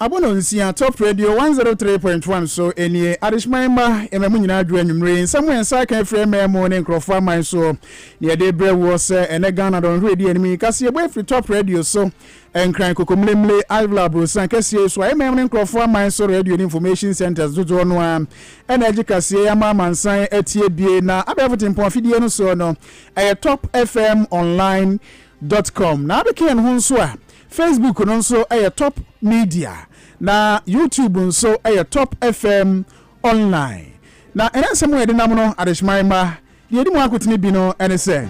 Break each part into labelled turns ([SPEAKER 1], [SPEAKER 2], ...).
[SPEAKER 1] Abono nsia top radio one zero three point one so nie adehyeman mma yɛma mu nyinaa dwo anwummere yi nsɛm yɛn nsa aka afiri ɛmɛɛ mu ne nkurɔfoɔ aman soɔ ne yɛde brɛ wuɔ sɛ ɛnɛ Ghana dɔnhwere di anim yi kaseɛ bɔ afiri top radio so nkran kokomlemle ivla aborosan kɛseɛ so a ɛmɛɛ mu ne nkurɔfoɔ aman so radio ne information centers dodoɔ no a ɛna agye kaseɛ yɛ ama amansan atie bie na abɛɛfo tempɔn afidie no soɔ no ɛyɛ top fm online dot com na abɛka yɛn ho nso a Facebook no nso yɛ Top Media, na YouTube nso yɛ Top FM Online. Na ɛnɛ nsɛm a yɛde nam no, adehyeman mma, deɛ ɛdi mu akotene bi no ne sɛ.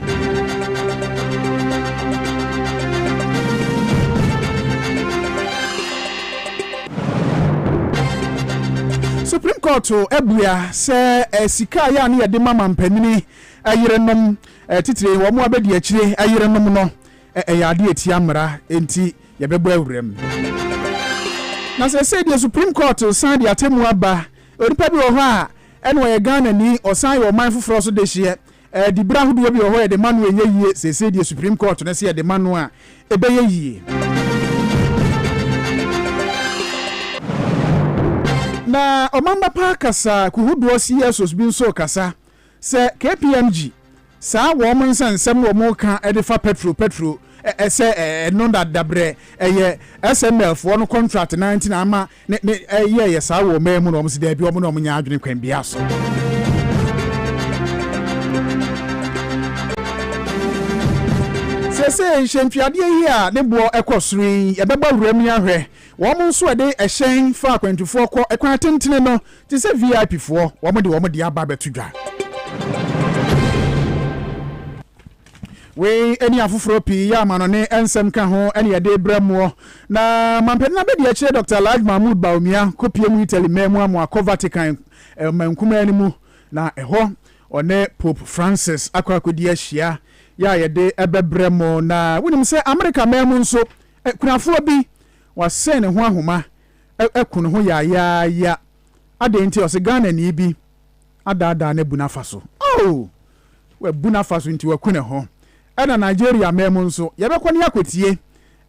[SPEAKER 1] Supreme Court abua sɛ eh, sika a yɛ a ne yɛde ma mampanini eh, yerenom eh, titire wɔn abɛdi akyire yerenom no Ɛyɛ ade a etia mmara, enti yɛbɛbɔ awuram. Na seesei deɛ Supreme Court resan de atemmu aba, onipa bi wɔ hɔ a ɛna ɔyɛ Ghanani, ɔsan yɛ ɔman foforɔ so dehyeɛ. Diberɛ ahodoɔ bi wɔ hɔ a yɛde ma no a ɛnyɛ yie, seesei deɛ Supreme Court no se yɛde ma no a, ɛbɛyɛ yie. Na Ɔmamba Park kasaa kuhodoɔ CSOs bi nso rekasa Sɛ kpmg saa wɔn nsa nsɛm wɔn ka de fa pɛtro pɛtro sɛ ɛno na dabrɛ ɛyɛ SML foɔ no contract no ara nti na ama ne ne yɛɛyɛ saa wɔ ɔman mu no wɔn se daabi wɔn ne wɔn nyɛ adwene kwan biara so. Seesei hyɛntuadeɛ yi a ne boɔ ɛkɔ soro yi ɛbɛbɔ wuram yi ahwɛ wɔn nso ɛde ɛhyɛn fa akwantufoɔ kɔ ɛkwan atentene no Te sɛ VIP foɔ wɔn de wɔn deɛ aba abɛto dwa. Wei ɛne afoforɔ pii yɛ amanɔne nsɛm ka ho ɛne yɛde brɛ moɔ. Na mampɛne na bɛdi akyire Doctor Alhaj Mahmood Bawumia kɔpie mu Italy man mu amoa kɔ Vatican man kumaa no mu na ɛhɔ ɔne Pope Francis akɔ akɔdi ahyia yɛ a yɛde ɛbɛbrɛ mo. Na wonim sɛ America man mu nso akunafoɔ bi wasɛn ne ho ahoma aku ne ho yaayaaya. Adɛn nti? Ɔse Ghanani bi adaadaa no abu no afa so. Oh! Wabu no afa so nti waku ne ho. Ɛna Nigeria man mu nso, yɛbɛkɔ ne akɔtie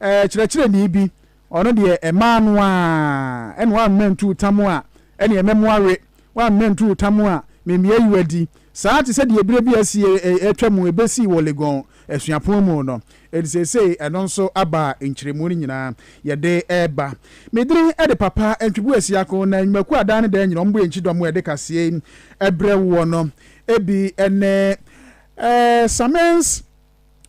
[SPEAKER 1] eh, kyerɛkyerɛni bi, ɔno deɛ ɛmaa no a, ɛna wammɛ ntuu tam a, ɛne ɛmɛ mo awe, wammɛ ntuu tam a, memmia yi wadi. Saa te sɛ deɛ berɛ bi asie ɛtwa mu ɛbɛsii wɔ Legon. asuapɔn mu no, enti seesei ɛno nso aba a nkyeremu no nyinaa yɛde reba. Me din de Papa Ntweboa Siako, na nnwumakuo a daa ne daa nyinaa wɔbɔ yɛn kyidɔm a yɛde kaseɛ yi brɛ woɔ no bi ne Samen's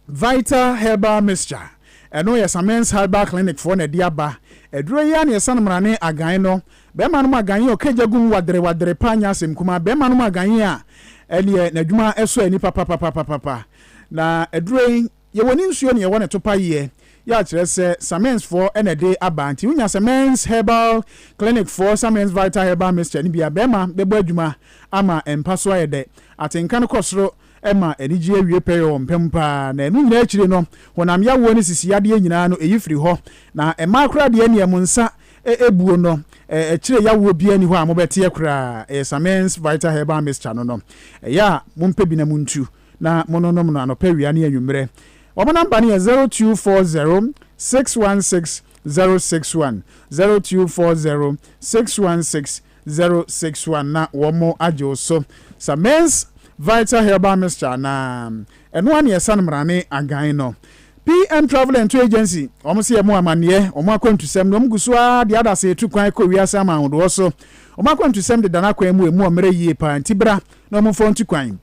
[SPEAKER 1] Vital Herbal Mixture, ɛno yɛ Samen's Herbal Clinic foɔ na ɛde aba, aduro yi ara na yɛsan mmara ne agan no, bɛrima nom agan yi a ɔka gya gu mu wadere wadere paa nyɛ asɛm kumaa, bɛrima nom agan yi a ɛneɛ n'adwuma sɔ ani papapapapapa. Na aduro yi yɛwɔ ne nsuo ne yɛwɔ ne topa yeɛ yɛ akyerɛ sɛ Samens foɔ na ɛde aba nti wonya Samens herbal clinic foɔ Samens vital herbal mixture no bi a bɛɛma bɛbɔ adwuma ama mpa so ayɛ dɛ atenka no kɔ soro ɛma anigyeɛ awie pɛyɛ wɔ mpa mu paa na ɛno nyinaa akyire no honam yawoɔ ne sisi yadeɛ nyinaa no ɛyi firi hɔ na mmaa koraa deɛ neɛ mo nsa ɛbuo no ɛkyire yawoɔ biara ni hɔ a mobɛteɛ koraa ɛyɛ Samens vital herbal mixture no no ɛyɛ a mompɛ bi na montu Na mononom no anɔpa awia ne anwummerɛ. Wɔn number no yɛ zero two four zero six one six zero six one zero two four zero six one six zero six one na wɔn agye wo so sa mens vital herbal mixture anaa ɛno ara na yɛsa no mmarane agan no PM travel and tour agency wɔn se wɔn amanneɛ wɔn akwantusɛm na wɔn gu so ara de adase etu kwan kɔ wiase ama ahodoɔ so wɔn akwantusɛm de dan akwan mu emu ɔmmerɛ yie paa nti bra na wɔn mfa wɔn tu kwan.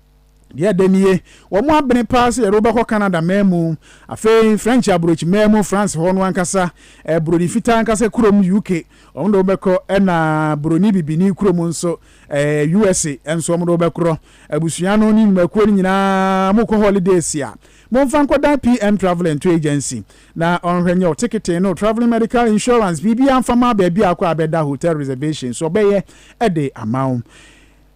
[SPEAKER 1] Deɛ ɛdɛ nie, wɔn abene paa sɛ yɛde wo bɛkɔ Canada man mu. Afei French aburokyi man mu, France hɔ no ankasa, eh, buroni fitaa ankasa kurom UK, wɔn de wo bɛkɔ, ɛna buroni bibini kurom nso, eh, USA nso wɔn de wo bɛkorɔ. Abusua no ne nnwumakuo no nyinaa mokɔ holidays a, momfa nkɔdan PM Travel and Tour Agency na ɔnhwɛ nyɛ wo tekete ne wo travelling medical insurance, biribiara mfa ma baabi a wokɔ a bɛda, hotel reservations, ɔbɛyɛ de ama wo.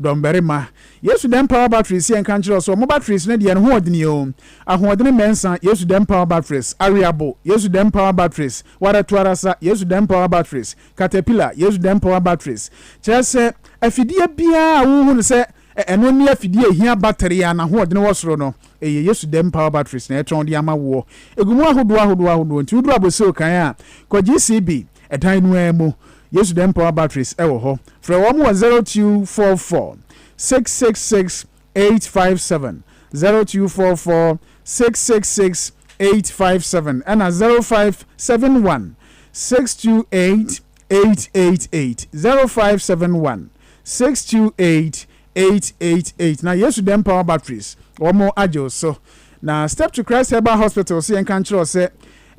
[SPEAKER 1] Dɔmbarima, Yesu dɛm power batteries yɛ nka nkyerɛ wo sɛ ɔmo batteries no deɛ ne ho ɔdene oo. Ahoɔdene mɛnsa, Yesu dɛm power batteries. Aweabo, Yesu dɛm power batteries. Wara tu ara sa, Yesu dɛm power batteries. Caterpillar, Yesu dɛm power batteries. Kyerɛ sɛ, afidie biara a wohu no sɛ ɛno ne afidie a ɛhia battery a n'ahoɔdene wɔ soro no, ɛyɛ Yesu dɛm power batteries na yɛtɔn de ama woɔ. Ɛgu mu ahodoɔ ahodoɔ ahodoɔ nti woduru Abossey Okan a, kɔgye CB, ɛdan no ara mu. Yesu Dɛm Power Batteries wɔ hɔ. Frɛ wɔn wɔ zero two four four six six six eight five seven zero two four four six six six eight five seven ɛna zero five seven one six two eight eight eight eight zero five seven one six two eight eight eight eight na Yesu Dɛm Power Batteries wɔn agye wo so na Step to Christ Herbal Hospital so yɛn ka nkyerɛ wo sɛ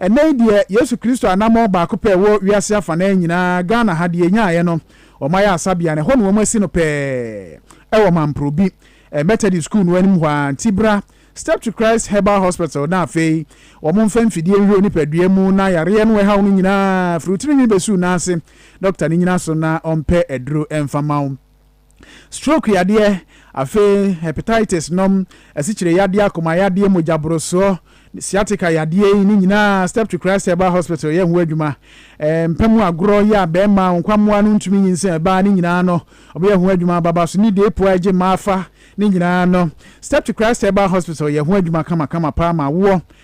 [SPEAKER 1] Ɛnnɛ yi deɛ, Yesu Kristo anammɔn baako pɛ wɔ wiase afanaa nyinaa, Ghana ha deɛ yɛnyaaeɛ no, wɔayɛ asabea no, ɛhɔ na wɔasi no pɛɛ, ɛwɔ Mamporobi, Methodist School no anim hɔ ara, nti bra, Step to Christ Herbal Hospital, na afei, wɔmfa mfidie nhwɛ wo nipadua mu na yareɛ no a ɛhaw no nyinaa, firi wo tirinwi bɛsi wo nan ase, dɔkta no nnyina so na ɔmpɛ aduro mfa ma wo. stroke yadeɛ, afei hepatitis nom, asikyire yadeɛ, akoma yadeɛ, mogya borosoɔ, sciatica yadeɛ yi ne nyinaa Steptree Christ Herbal Hospital yɛ ho adwuma. Eh, mpa mu agorɔ yɛ a bɛrima nkwammoa no ntumi nyinsɛn ɛbaa ne nyinaa no ɔbɛyɛ ho adwuma baba so ne deepo a ɛgye mmaa fa ne nyinaa no Steptree Christ Herbal Hospital yɛ ho adwuma kamakama paa ma awoɔ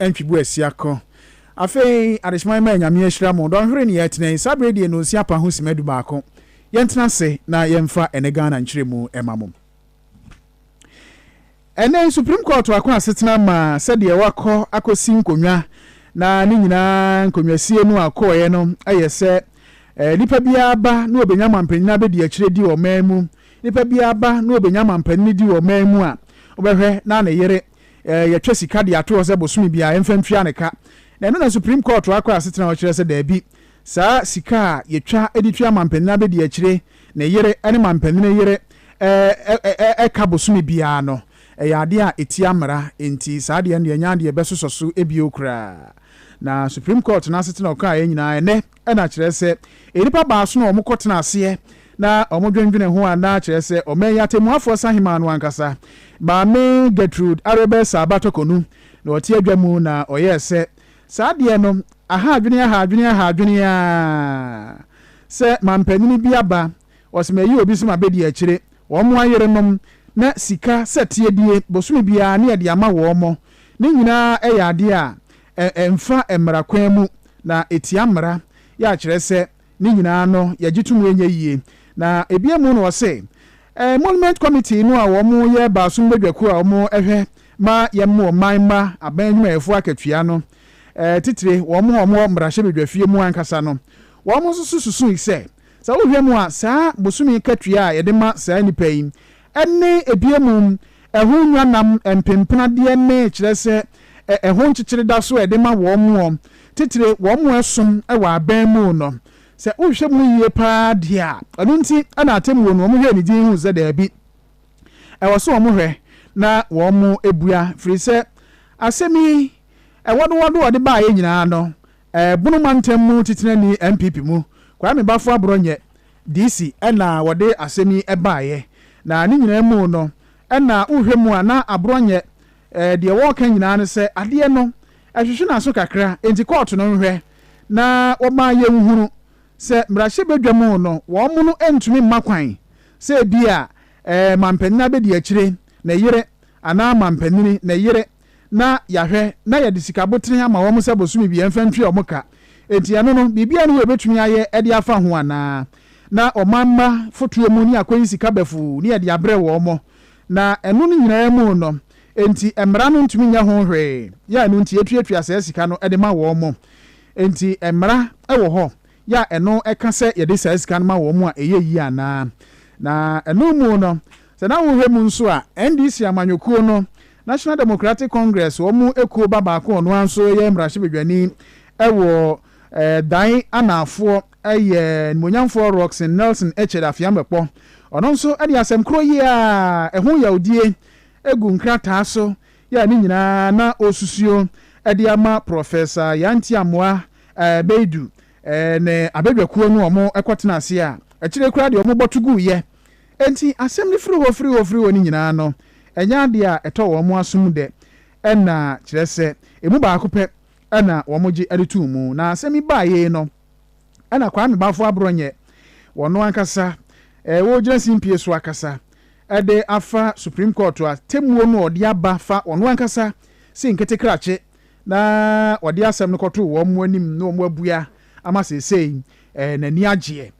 [SPEAKER 1] Ntwibu asia ko. Afei, adehyema yi ma Nyame ahyira mo. Dɔnhwere ne yɛtena yi. Saa berɛ yi deɛ nonsia pa ho sima dubaako. Yɛntena ase na yɛmfa ɛnɛ Ghana nkyerɛmu ma mo. Ɛnɛ yi Supreme Court ako asetena ma sɛdeɛ wakɔ akɔsi nkonnwa na ne nyinaa nkonnwasie no a kɔɔeɛ no yɛ sɛ eh, nipa biara ba na ɔbɛnya amanpanin abɛdi akyire di ɔman mu. Nipa biara ba na ɔbɛnya amanpanin di ɔman mu a wobɛhwɛ na ne yere eh, yɛtwa sika de ato hɔ sɛ bosome biara yɛmfa ntua ne ka. Na ɛno na Supreme Court akɔ asetena hɔ kyerɛ sɛ daabi, saa sika a yɛtwa de tua mampanin abɛdi akyire, ne yere ne mampanin yere eh, ka bosome biara no, ɛyɛ adeɛ a ɛtia mmara, enti saa deɛ no deɛ ɛnyɛ adeɛ yɛbɛsosɔ so bio koraa. Na Supreme Court no asetena ɔkaeɛ nyinaa ɛnɛ, Ɛna kyerɛ sɛ, nnipa baason a wɔkɔtena aseɛ na wɔdwendwene ho a na kyerɛ sɛ ɔman yi atɛmmuafoɔ sahemaa no ankasa, Maame Gertrude Arebɛ Saaba Tɔkɔnu, na ɔte adwa mu na ɔyɛɛ sɛ, saa deɛ no, aha adwene aha adwene aha adwene ara sɛ mampanin bi aba ɔsemayi obi sɛ ma bedi akyire wɔn ayerenom na sika sɛ tiedie bosome biara ne yɛde ama wɔn ne nyinaa yɛ adeɛ a ɛmfa mmara kwan mu na ɛtia mmara yɛ a kyerɛ sɛ ne nyinaa no yɛgye to mu ɛnyɛ yie na ɛbia mu no ɔse Emolument Committee no a wɔn yɛ baasom badwakuo a wɔn ɛhwɛ ma yɛn mo ɔman mma aban adwumayɛfoɔ akatua no titire wɔn a wɔn wɔ mmarahyɛ badwafie mu ankasa no wɔn nso so susui sɛ Sɛ wohwɛ mu a, saa bosome katua a yɛde ma saa nnipa yi ne ebia mu ɛho nnwannam mpenpenadeɛ ne kyerɛ sɛ ɛho nkyekyere da so a yɛde ma wɔn titire wɔn a ɛsom wɔ aban mu no, sɛ wohwɛ mu yie pa ara deɛ a, ɛno nti na atemmuo no wɔhwɛɛ ne din huu sɛ daabi, ɛwɔ sɛ wɔhwɛ na wɔbua, firi sɛ asɛm yi, wɔdowɔdo a wɔde baeɛ nyinaa no, Ɛbono mantam mu titenani NPP mu Kwame Bafo Aborɔ nyɛ DC na wɔde asɛm yi baeɛ. Na ne nyinaa mu no na wohwɛ mu a na Aborɔ nyɛ deɛ wɔreka nyinaa ne sɛ adeɛ no ɛhwehwe n'aso kakra enti kɔɔto no nhwɛ na wɔma yɛnhunu sɛ mmarahyɛbadwam no wɔn no ntumi mma kwan sɛ ebia mampanin abɛdiakyire ne yere anaa mampanin ne yere na yɛahwɛ na yɛde sika abotene ama wɔn sɛ bosome biara mfa ntwea wɔn ka. Enti ɛno no, biribiara nni hɔ a yɛbɛtumi ayɛ de afa ho anaa? Na ɔman mma fotoɔ mu ne yɛakɔyi sika bafuu ne yɛde abrɛ wɔn. Na ɛno no nyinaa mu no, enti mmara no ntumi nyɛ ho hwee, yɛ a ɛno nti yɛtuatua saa sika no de ma wɔn. Enti mmara wɔ hɔ yɛ a ɛno ka sɛ yɛde saa sika no ma wɔn a ɛyɛ yie anaa? Na ɛno mu no, Sɛ na wohwɛ mu nso a, NDC amanyɔkuo no, National Democratic Congress, wɔn ekuo ba baako a ɔno ara nso yɛ mmarahyɛbadwani wɔ Dan Anaafoɔ yɛ Animuonyamfoɔ Rockson Nelson Ekyere Afeamekpɔ. Ɔno nso de asɛm korɔ yi a ɛho yawdie gu nkrataa so yɛ a ne nyinaa na ɔresusuo de ama Prɔfɛsa Yanti Amoah Beidu ne abadwakuo no a wɔkɔtena ase a akyire koraa deɛ wɔbɔ to guiɛ Enti asɛm no firi hɔ firi hɔ firi hɔ no nyinaa no, ɛnyɛ adeɛ a ɛtɔ wɔn asom dɛ, ɛna kyerɛ sɛ, ɛmu baako pɛ na wɔgye de too mu. Na asɛm yi baeɛ no, ɛna Kwame Bafo Aborɔnyɛ, ɔno ankasa, ɔregyina simpie so akasa de afa Supreme Court atemmuo no a ɔde aba fa ɔno ankasa se nketekrakye na ɔde asɛm no kɔtoo wɔn anim na wɔabua ama seesei n'ani agyeɛ.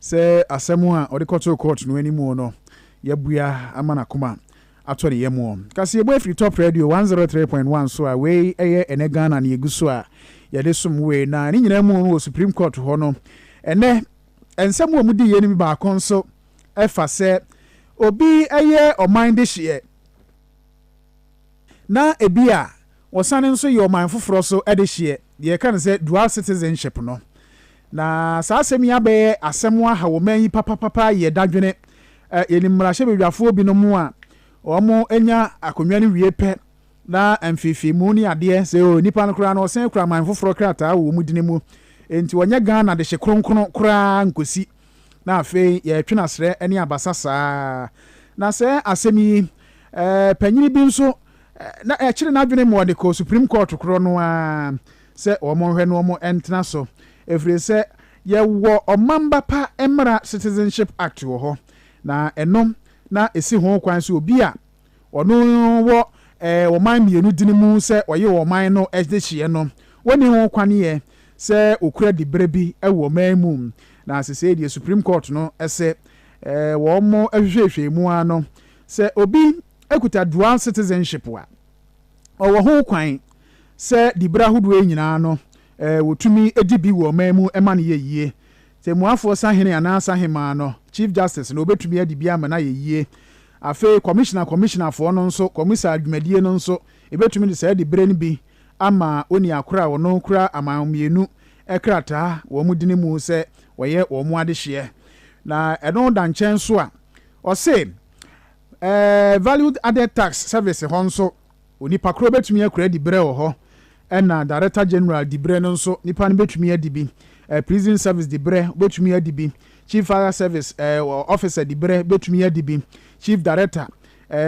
[SPEAKER 1] Sɛ asɛm a ɔde kɔtoo kɔɔto no anim no yɛ bua ama n'akoma atɔ ne yam. Kaseɛbɔ afiri Top Radio one zero three point one so a wei yɛ ɛnɛ Ghana nea egu so a yɛde som wei na ne nyinaa mu no wɔ Supreme Court hɔ no ɛnɛ nsɛm a wɔn di yɛ no bi baako nso ɛfa sɛ obi yɛ ɔman dehyeɛ. na ebia wɔsane nso yɛ ɔman foforɔ so adehyeɛ, deɛ yɛka no sɛ dual citizenship no. Na saa asɛm yi abɛyɛ asɛm aha ɔman yi papapapa yɛ dadwene. Yɛnim mmarahyɛbadwafoɔ binom a wɔanya akonnwa no wie pɛ na mfeefeemu ne adeɛ, sɛ nipa no koraa no ɔsan kura man foforɔ krataa wɔ wɔn dini mu, enti wɔnyɛ Ghana dehye kronkron koraa nkɔsi. Na afei yɛretwe no asrɛ ne abasa saa. Na sɛ asɛm yi, ɛɛ, panyini bi nso, na ɛkyere n'adwene ma ɔde kɔ Supreme Court korɔ no ara sɛ wɔn nhwɛ no wɔn ntena so. Ɛfiri sɛ yɛwɔ Ɔmamba Pa Mmara, Citizenship Act, wɔ hɔ, na ɛno na ɛsi ho kwan sɛ obi a, Ɔno wɔ eh, ɔman mmienu dini mu sɛ ɔye ɔman no dehyeɛ no. Wonni ho kwanneɛ sɛ ɔkura diberɛ bi wɔ ɔman mu. Na sesei deɛ Supreme Court no se eh, wɔn hwehwɛhwɛɛ mu ara no, sɛ obi kuta dual citizenship a, ɔwɔ ho kwan sɛ diberɛ ahodoɔ yi nyinaa no eh, wɔtumi di bi wɔ ɔman mu ma no yɛ yie. Tɛmmuafoɔ sahene anaa sahemaa no, Chief Justice, na ɔbɛtumi adi bi ama no ayɛ yie. Afei kɔmihina kɔmihinafoɔ no nso kɔmisa dwumadie no nso, yɛbɛtumi de saa diberɛ no bi ama onua korɔ a ɔno kura aman mmienu krataa wɔn dini mu sɛ ɔyɛ wɔn adehyeɛ. Na ɛno da nkyɛn nso a, ɔse ɛɛ Value Added Tax Service hɔ nso, Onipa koro bɛtumi akura diberɛ wɔ hɔ ɛna Director General diberɛ no nso nipa no bɛtumi adi bi, Prison Service diberɛ wobɛtumi adi bi, Chief Fire Service Officer diberɛ bɛtumi adi bi, Chief Director,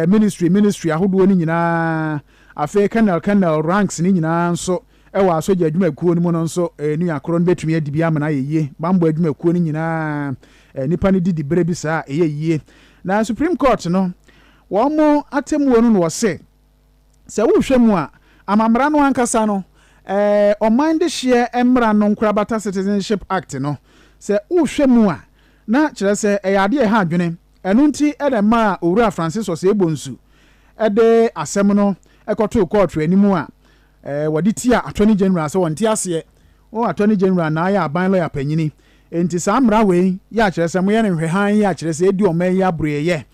[SPEAKER 1] Ministry Ministry ahodoɔ no nyinaa, afei Colonel Colonel ranks no nyinaa nso wɔ asogya adwumakuo no mu no nso nua koro no bɛtumi adi bi amena ayɛ yie. Bammɔ adwumakuo no nyinaa nipa no di diberɛ bi saa a ɛyɛ yie. Na Supreme Court no, Wɔn mo atemmuo no na wɔse, sɛ wohwɛ mu a, amammara no ankasa no, ɛɛ, ɔman dehyeɛ mmara no nkorabata Citizenship Act no, sɛ wohwɛ mu a, na kyerɛ sɛ ɛyɛ adeɛ a ɛha adwene, ɛno nti na ɛmaa Owura Francis Osei Bonsu de asɛm no kɔtoo kɔɔto anim a ɛɛ, wɔde tia Attorney General sɛ ɔnte aseɛ, oh, Attorney General na ayɛ aban lɔya panyini, enti saa mmara wei yɛ a kyerɛ sɛ moyɛ no nhwɛhan yɛ a kyerɛ sɛ ɛredi ɔman yi aburoeɛ.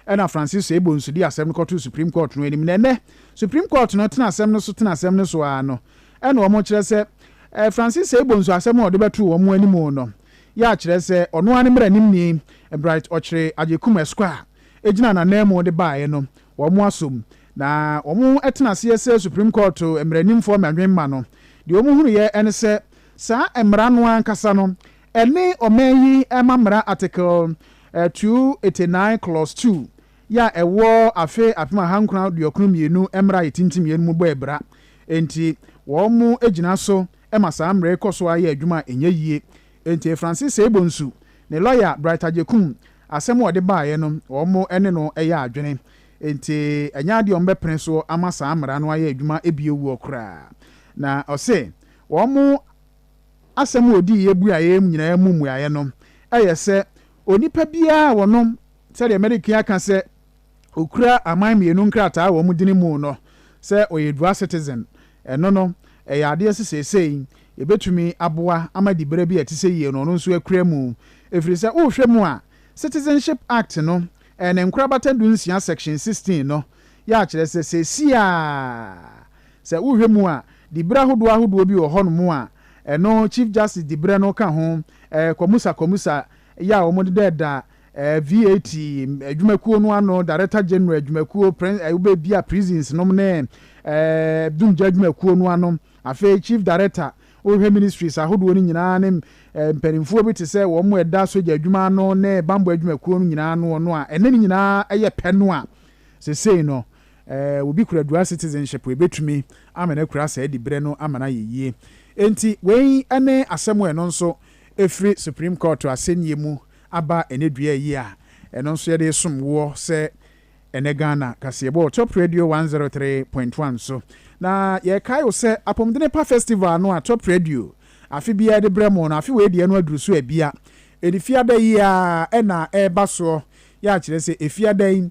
[SPEAKER 1] Ɛnna Francisco Ebonsu de asɛm no kɔtoo Supreme Court no anim, na ɛnnɛ, Supreme Court no tena asɛm no so tena asɛm no so ara no, ɛnna wɔkyerɛ sɛ Francisco Ebonsu asɛm a ɔde bɛtoo wɔn anim no yɛ akyerɛ sɛ ɔno ara ne mmaranimni Bright Ɔkyere Agyekum Ɛsquire a ɛgyinaa n'ananmu de baeɛ no, wɔasom, na wɔatena aseɛ sɛ Supreme Court mmaranimfoɔ mmadwemma no. Deɛ wɔhunuiɛ ne sɛ saa mmara no ankasa no, ɛne ɔman yi mmammara Article 289 Clause 2 yɛ a ɛwɔ afe apem ahankron aduokron mmienu mmara a etintim yɛn no mu bɔ abira. Enti wɔgyina so ma saa mmara yi kɔ so ara yɛ adwuma a ɛnyɛ yie. Enti Francis Seibonsu ne lɔya Bright Agyekum, asɛm a ɔde baeɛ no, wɔne no yɛ adwene. Enti ɛnyɛ adeɛ a wɔbɛpene so ama saa mmara no ayɛ adwuma bio wuo koraa. Na ɔse wɔn. Asɛm a odii yɛ buaeɛ nyinaa mu mmuaeɛ no yɛ sɛ onipa biara a wɔnom sɛdeɛ Medicare ka sɛ okura aman mmienu nkrataa wɔ wɔn dini mu no sɛ ɔyɛ dual citizen. Ɛno no ɛyɛ adeɛ sɛ seesei ɛbɛtumi aboa ama diberɛ bi a ɛte sɛ yie no ɔno nso akura mu. Ɛfiri sɛ wohwɛ mu a Citizenship Act no ɛyɛ ne nkorabata du nsia section sixteen no yɛ akyerɛ sɛ seesei ara Sɛ wohwɛ mu a, diberɛ ahodoɔ ahodoɔ bi wɔ hɔnom a ɛno Chief Justice diberɛ no ka ho, ɛɛ kɔmusa kɔmusa yɛ a wɔn de da ɛɛ VAT adwumakuo no ano, Director General adwumakuo, prin ɛɛ wobɛ bia prisons nom ne ɛɛ dumgya adwumakuo no ano, afei Chief Director wohwɛ ministries ahodoɔ no nyinaa ne ɛɛ mpaninfoɔ bi te sɛ wɔn ɛda sogya adwuma ano ne banbɔ adwumakuo no nyinaa ano no a ɛnɛ ne nyinaa ɛyɛ pɛ no a sesei no Sɛ obi kura dual citizenship a, ebetumi ama no akura saa diberɛ no ama no ayɛ yie. Enti wei ne asɛm a ɛno nso ɛfiri Supreme Court asɛnnie mu aba ɛnɛ dua yi a ɛno nso yɛde resom woɔ sɛ ɛnɛ Ghana kaseɛbɔ wɔ Top Radio one zero three point one so. Na yɛrekae wo sɛ Apomdene Pa Festival no a Top Radio afe biara de brɛ mo no, afe wei deɛ no aduru so abia. Ɛdi Fiada yi ara na ɛreba soɔ, yɛ a kyerɛ sɛ Fiada yi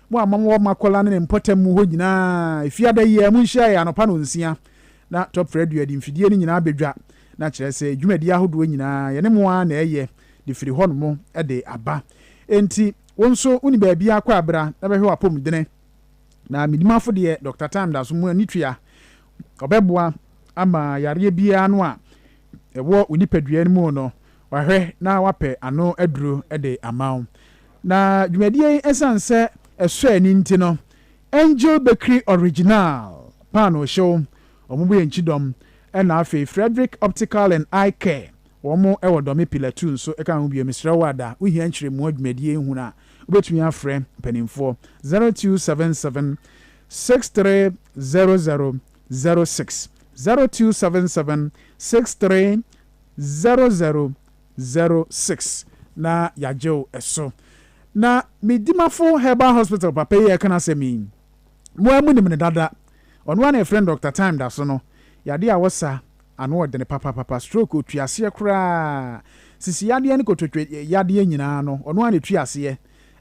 [SPEAKER 1] Mo a mowɔ mo akwadaa no ne mpɔtam hɔ nyinaa, ɛfiri ada yi ara monhyiae anɔpa nnɔnsia na Top Radio de mfidie no nyinaa bɛdwa, na kyerɛ sɛ dwumadie ahodoɔ nyinaa yɛne mo ara na ɛreyɛ de firi hɔnom de aba. Enti wo nso wonni baabiara kɔ a bra na bɛhwɛ w'apɔmudene. Na me dimafo deɛ Doctor Time da so mu ani tua, ɔbɛboa ama yareɛ biara no a ɛwɔ wo nipadua no mu no wahwɛ na wapɛ ano aduro de ama wo. Na dwumadie yi ɛsiane sɛ ɛsɔ ani nti no, Angel Bakery Original paanoo hyew, wɔn bo yɛ nkyidɔm, ɛna afei Frederick Optical and Eye Care, wɔn wɔ Dɔme Pillar Two nso ɛka ho bio. Mesrɛ wo ada, wo hia nkyerɛmu wɔ dwumadie yi ho no a, wo bɛtumi afrɛ mpaninfoɔ, zero two seven seven six three zero zero zero six, zero two seven seven six three zero zero zero six na yagyew ɛso na me dimafo herbal hospital papa yi a ɛka n'asɛm yi mo ara mo nim no dada ɔno ara na yɛfrɛ no doctor time da so no yadeɛ a wɔsa ano ɔdene papapapa stroke otua aseɛ koraa sisi yadeɛ ne kototwe yadeɛ nyinaa no ɔno ara na etua aseɛ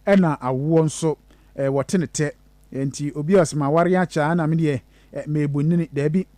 [SPEAKER 1] ɛna awoɔ nso ɛɛ wɔte ne tɛ nti obi a ɔsɛ ma aware akyɛ a na me deɛ ɛɛ meebu nini daabi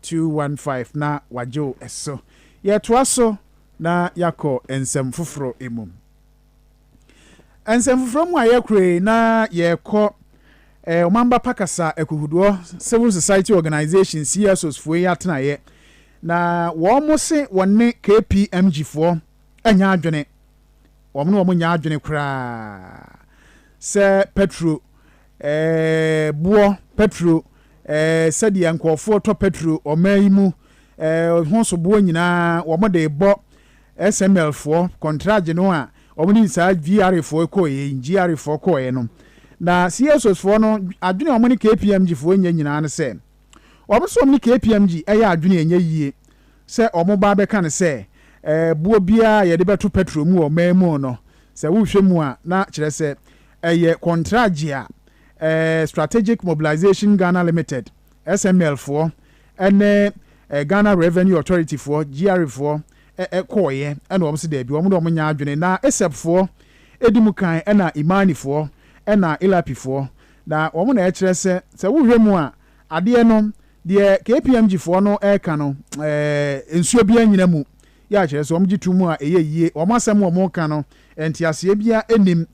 [SPEAKER 1] two one five na wɔagye wo so. Yɛtoa so na yɛakɔ nsɛm foforɔ mu. Nsɛm foforɔ mu a yɛkɔ yi na yɛkɔ eh, Ɔmamba Pa Kasa Akuhudoɔ Civil Society Organization CSOs foɔ yi atenaeɛ na wɔn mo se wɔn ne KPMG foɔ anya adwene wɔn ne wɔn nya adwene koraa sɛ petro Eeh boɔ pɛtro eeh sɛdeɛ nkorɔfoɔ tɔ pɛtro ɔmaa yi mu eeh ho soboɔ nyinaa wɔn de rebɔ SML foɔ kɔntragye no a wɔn de saa GRA foɔ kɔɔɛ yi GRA foɔ kɔɔɛ no na CSOs foɔ no adwene wɔn ne KPMG foɔ nyɛ nyinaa no sɛ wɔn nso wɔn ne KPMG ɛyɛ adwene ɛnyɛ yie sɛ wɔn ba bɛka no sɛ eeh boɔ biara yɛde bɛto pɛtro mu wɔ ɔmaa mu no sɛ wohwɛ mu a na kyerɛ sɛ Ɛyɛ kɔntragye a Strategic Mobilisation Ghana Limited, SML, foɔ ne Ghana Revenue Authority foɔ, GRA, foɔ kɔeɛ na wɔn se daabi, wɔn de wɔn nyɛ adwene. Na ISEP foɔ di mu kan na Imani foɔ na ILAPI foɔ. Na wɔn na ɛkyerɛ sɛ, sɛ wohwɛ mu a, adeɛ no, deɛ KPMG foɔ no reka no, nsuo biara nnyina mu. yɛ a kyerɛ sɛ wɔgye to mu a ɛyɛ yie, wɔn asɛm wɔn reka no nteaseɛ biara nnim.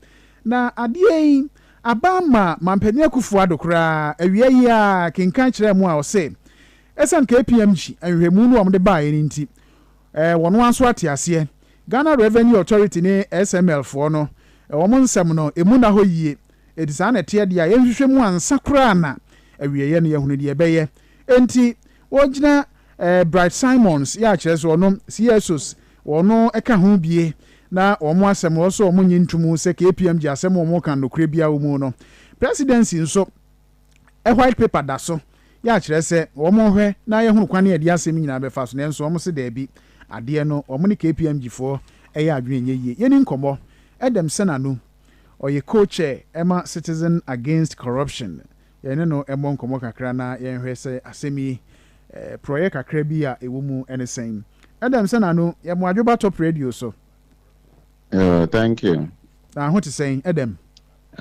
[SPEAKER 1] Na adeɛ yi aba ama Manpanin Akuffo Addo koraa, awia yi ara kenkan kyerɛɛ mo a ɔse ɛsiane KPMG nhwehwɛmu no a wɔde baeɛ no nti wɔn ara nso ate aseɛ. Ghana Revenue Authority ne SML foɔ no wɔn nsɛm no ɛmu nna hɔ yie, ɛti saa na ɛteɛ deɛ a yɛnhwehwɛ mu ansa koraa na awieɛ no yɛahunu deɛ ɛbɛyɛ. Enti, wogyina eh, Bright Simons, yɛ a kyerɛ sɛ ɔno, Ciesus, wɔno ɛka ho bie, na wɔn asɛm no, wɔsɔ wɔn nye nto mu sɛ KPMG asɛm a wɔka no nokorɛ biara wɔ mu no. Presidency nso, eh, White Paper da so, yɛ a kyerɛ sɛ wɔn nhwɛ na yɛ hunu kwan a ɛdeɛ asɛm yi nyinaa bɛfa so, nanso wɔn se daabi, adeɛ no, wɔn ne KPMG foɔ ɛyɛ adwene nyɛ yie. Yɛni nkɔmmɔ. Edem Senanu, ɔyɛ co-chair ɛma Citizen Against Corruption. Yɛne no mmɔ nkɔmmɔ kakra na yɛnhwɛ sɛ asɛm yi, porɔeɛ kakra bi a ɛwɔ mu ne sɛn. Adam Sananu, yɛ mmoadwoba top radio so. Oh,
[SPEAKER 2] thank you. Na ho te sɛn,
[SPEAKER 1] Adam?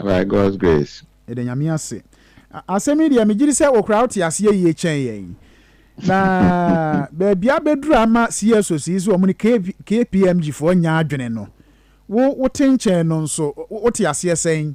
[SPEAKER 1] By God's
[SPEAKER 2] grace. Yɛda Nyame ase.
[SPEAKER 1] Asɛm yi deɛ, megyedi sɛ wo koraa wote aseɛ yie kyɛn yɛn. Na baabi abɛduru ama CSOs yi sɛ wɔn ne KPMG foɔ nyɛ adwene no, wo wote nkyɛn no nso, wote aseɛ sɛn?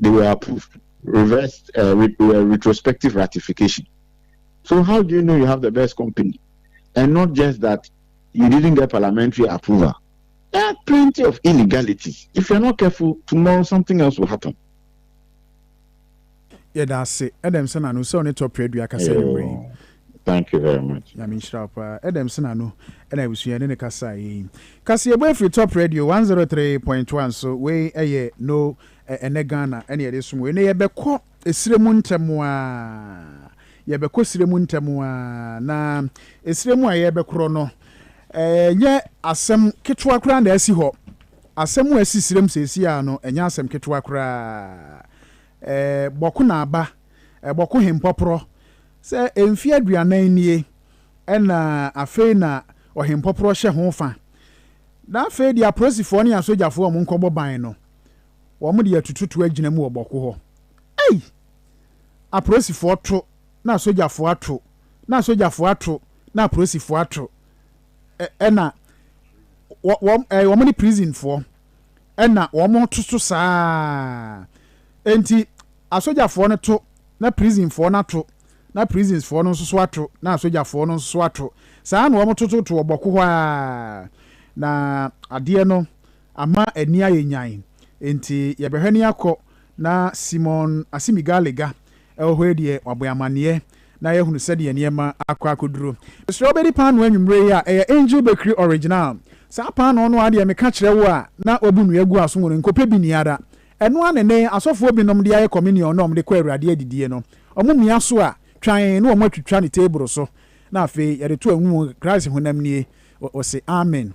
[SPEAKER 2] they were approved reverse uh, re, uh, retrospective ratification so how do you know you have the best company and not just that you didn't get parliamentary approval there are plenty of illegalities if you're not careful tomorrow something else will happen
[SPEAKER 1] yɛda ase ɛdɛm sɛ nano sɛ ɔne tɔprɛ dua kasa nwummerɛ yi Thank you very
[SPEAKER 2] much. Nyame nhyira paa.
[SPEAKER 1] Ɛdɛm sena no ɛna abusua ne ne kasa yi. Kasa yɛbɔ afiri Top Radio 103.1 so wei ɛyɛ no Ɛ ɛnɛ Ghana ɛna yɛde som o. Ɛnɛ yɛbɛkɔ ɛsire mu ntɛm ara. Yɛbɛkɔ ɛsire mu ntɛm ara. Na ɛsire mu a yɛrebɛkorɔ no, ɛ ɛnyɛ asɛm ketewa koraa na asi hɔ. Asɛm a asi sire mu seesei ara no, ɛnyɛ asɛm ketewa koraa. Ɛ Bɔko na aba. Ɛ Bɔko Hempɔporɔ. Sɛ mfeɛ aduanan nie, ɛna afei na Ɔhempɔporɔ hyɛ ho fa. Na afei deɛ apolisifoɔ ne asogyafoɔ a wɔnkɔbɔ ban no, wɔn de atututu agyina mu wɔ bɔko hɔ ei aporosifoɔ to na asogyafoɔ ato na asogyafoɔ ato na aporosifoɔ ato ɛna wɔn ɛɛ wɔn ne prisonfoɔ ɛna wɔn to so saa enti asogyafoɔ no to na prisonfoɔ no ato na prisonsfoɔ no nso so ato na asogyafoɔ no nso so ato saa na wɔn tototo wɔ bɔko hɔ a na adeɛ no ama ani ayɛ nyan, enti yɛbɛhwɛ ne akɔ na Simon Asimigalega wɔ hɔ yi deɛ wabɔ yɛn amaneɛ na yɛahunu sɛdeɛ nneɛma akɔ akɔduro. Mesrɛ wo bɛdi paanoo anwummerɛ yi a ɛyɛ Angel Bakery Original. Saa paanoo no ara deɛ meka kyerɛ wo a na wɔabu nnua agu aso wɔ no nkɔpɛ bi nni ara. Ɛno ara na ɛnnɛ asɔfoɔ binom de ayɛ communion no a wɔde kɔ Awurade adidie no. Wɔmia so a, twan na wɔatwitwa no teebolo so na afei yɛde to anwum, Christ honam nie. Wɔse, Amen.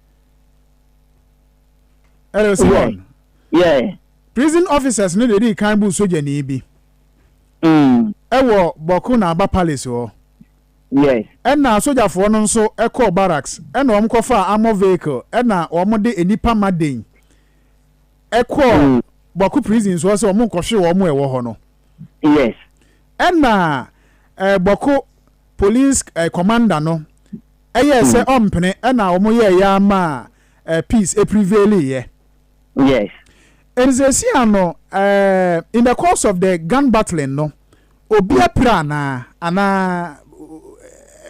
[SPEAKER 1] ɛrɛ sɛ wɔn
[SPEAKER 3] prison officers
[SPEAKER 1] no de kan bu sogyani bi mm. ɛwɔ bɔko na aba palace hɔ
[SPEAKER 3] ɛna sogyafoɔ
[SPEAKER 1] no nso ɛkɔɔ barracks ɛna wɔn kɔfa amɔ vehicle ɛna wɔn de nnipa ma den ɛkɔɔ mm. bɔko prison so sɛ wɔn nkɔhwe wɔn ɛwɔ hɔ no
[SPEAKER 3] ɛna
[SPEAKER 1] ɛɛ bɔko police ɛɛ commander no. Ɛyɛɛ sɛ ɔmpene ɛna wɔn yɛɛ yɛ ara maa eh, peace ɛprevaili yɛ. Yes.
[SPEAKER 3] Ɛnti
[SPEAKER 1] sɛsi ano eh, in the course of the gun battling no, obi apira anaa, anaa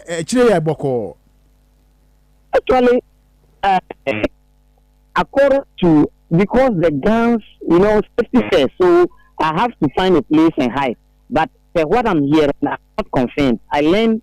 [SPEAKER 1] eh, akyire yɛ bɔkɔɔ?
[SPEAKER 3] Actually, uh, according to because the guns, you know, safety first, so I have to find a place and hide. But uh, what I'm hearing, I'm not confirmed. I learned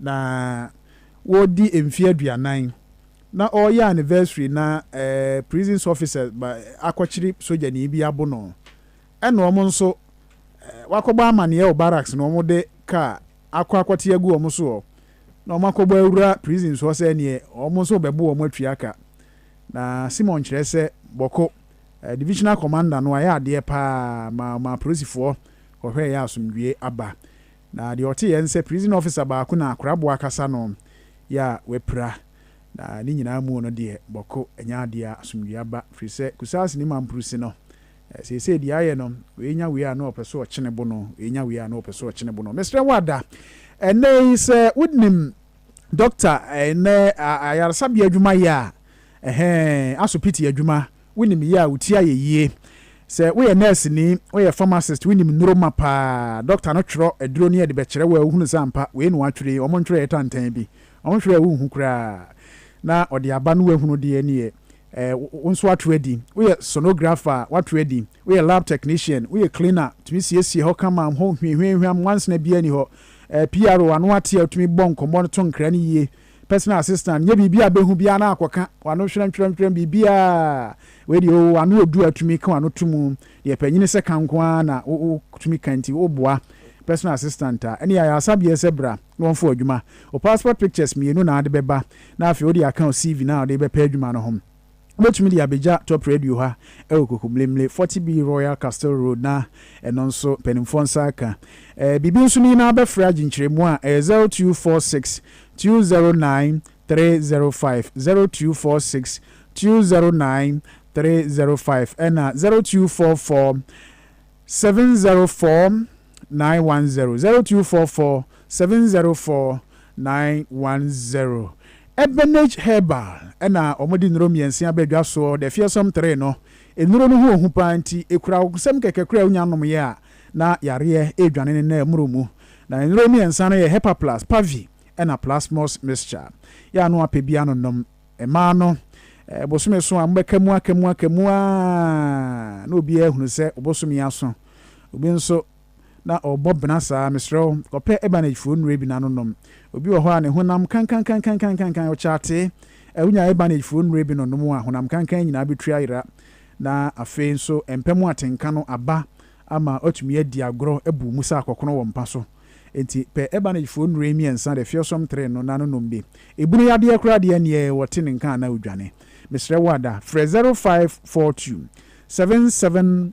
[SPEAKER 1] Na wɔredi mfe aduanan na ɔreyɛ anniversary na prisons officers ba akɔkyere sogyani bi abo no. Ɛna wɔn nso wakɔbɔ amaneɛ wɔ barracks na wɔde car akɔ akɔte agu wɔn soɔ na wɔn akɔbɔ awura prisons hɔ sɛ neɛ wɔn nso bɛbo wɔn atua ka. Na Simon kyerɛ sɛ Bɔko, divisional commander no ayɛ adeɛ paa ma ɔmaa apolisifoɔ kɔhwɛeɛ asomdwoeɛ aba. Na deɛ ɔte yɛ nsɛ prison officer baako na akoraboa kasa no yɛ a wapira na ne nyinaa muo no deɛ bɔko ɛnyɛ adeɛ a asomdwie aba firi sɛ kusaase ne mampurusi no seesei deɛ ayɛ no wei nya wei a na ɔpɛ so ɔkyene bo no wei nya wei a na ɔpɛ so ɔkyene bo no mesrɛ wo ada ɛnɛ yi sɛ wonim doctor ɛnɛ ayaresabea adwuma yɛ a ɛhɛɛ asopiti adwuma Wonim yɛ a, wo ti ayɛ yie. Sɛ woyɛ nɛɛseni, woyɛ pharmacist, wonim nnuro ma pa ara. Dɔkta no twerɛ aduro no yɛ de bɛkyerɛ wo a, wohunu sɛ ampa, wei na wɔatwerɛ yi, wɔntwerɛɛ tantan bi. Wɔhwɛ a wonhu koraa, na ɔde aba na woahunu deɛ ɛne yɛ. Ɛɛ, wo nso woato adi. Woyɛ sonographer a, woato adi. Woyɛ lab technician, woyɛ cleaner, wotumi siesie hɔ kama, hɔ hwiahwiahwiam, nwansena biara nni hɔ. Ɛɛ, PRO, ano ate a wotumi bɔ nkɔmmɔ no to nkra no yie, Personal assistant nyɛ biribi a bɛhu biara na akɔka w'ano hwerɛmhwerɛmhwerɛm biribiara wei deɛ oo w'ano ɔdu a tumi ka w'ano to mu, deɛ panyini sɛ ka nko ara na wotumi ka nti woboa personal assistant a ɛne ayaresabeɛ sɛ bra na wɔmfa wo adwuma. Wo passport pictures mmienu na wode bɛba na afei wode aka wo CV no a wode rebɛpɛ adwuma no ho. Wobɛtumi de abɛgya Top Radio ha wɔ Kokoblemle, Forty B Royal Castle Road na ɛno nso mpanimfoɔ nsa aka. Biribi nso ne nyinaa wobɛfrɛ agye nkyerɛmu a ɛyɛ zero two four six two zero nine three zero five, zero two four six two zero nine three zero five ɛna zero two four four seven zero four. 910 0244 704 910. Ebenage Herbal na wɔde nnuro mmiɛnsa aba dwa soɔ, the fearsome three no. Nnuro no ho ɔhu paa nti, ɛkura wo nsam kɛkɛ koraa a wonya nomeeɛ a, na yareɛ redwane ne nan mmoro mu. Na nnuro mmiɛnsa no yɛ Hepaplus, Pavi ɛna Plasmos Mixture. Yɛ ano apɛ bi ano nom. Mmaa no, bosome so a mobɛka mu aka mu aka mu ara na obiara ahunu sɛ wo bosome aso. Obi nso, na ɔrebɔ bena saa, mesrɛ wo, kɔpɛ Ebanagy foɔ nnuro bi na no nom. Obi wɔ hɔ a, ne honam kankankankankankan, ɔkyaatee. Ɛ, wonya Ebanagy foɔ nnuro bi no nom a, honam kankan nyinaa bɛtu ayera. Na afei nso, mpɛ mu atenka no aba ama woatumi adi agorɔ abu mu sɛ akɔkono wɔ mpa so. Enti, pɛ Ebanagy foɔ nnuro yi mmiɛnsa, the fearsome three no, na no nom bi. Ebunu yadeɛ koraa deɛ, ɛnneɛ wɔte ne nka a na wodwane. Mesrɛ wo ada, frɛ zero five four two seven seven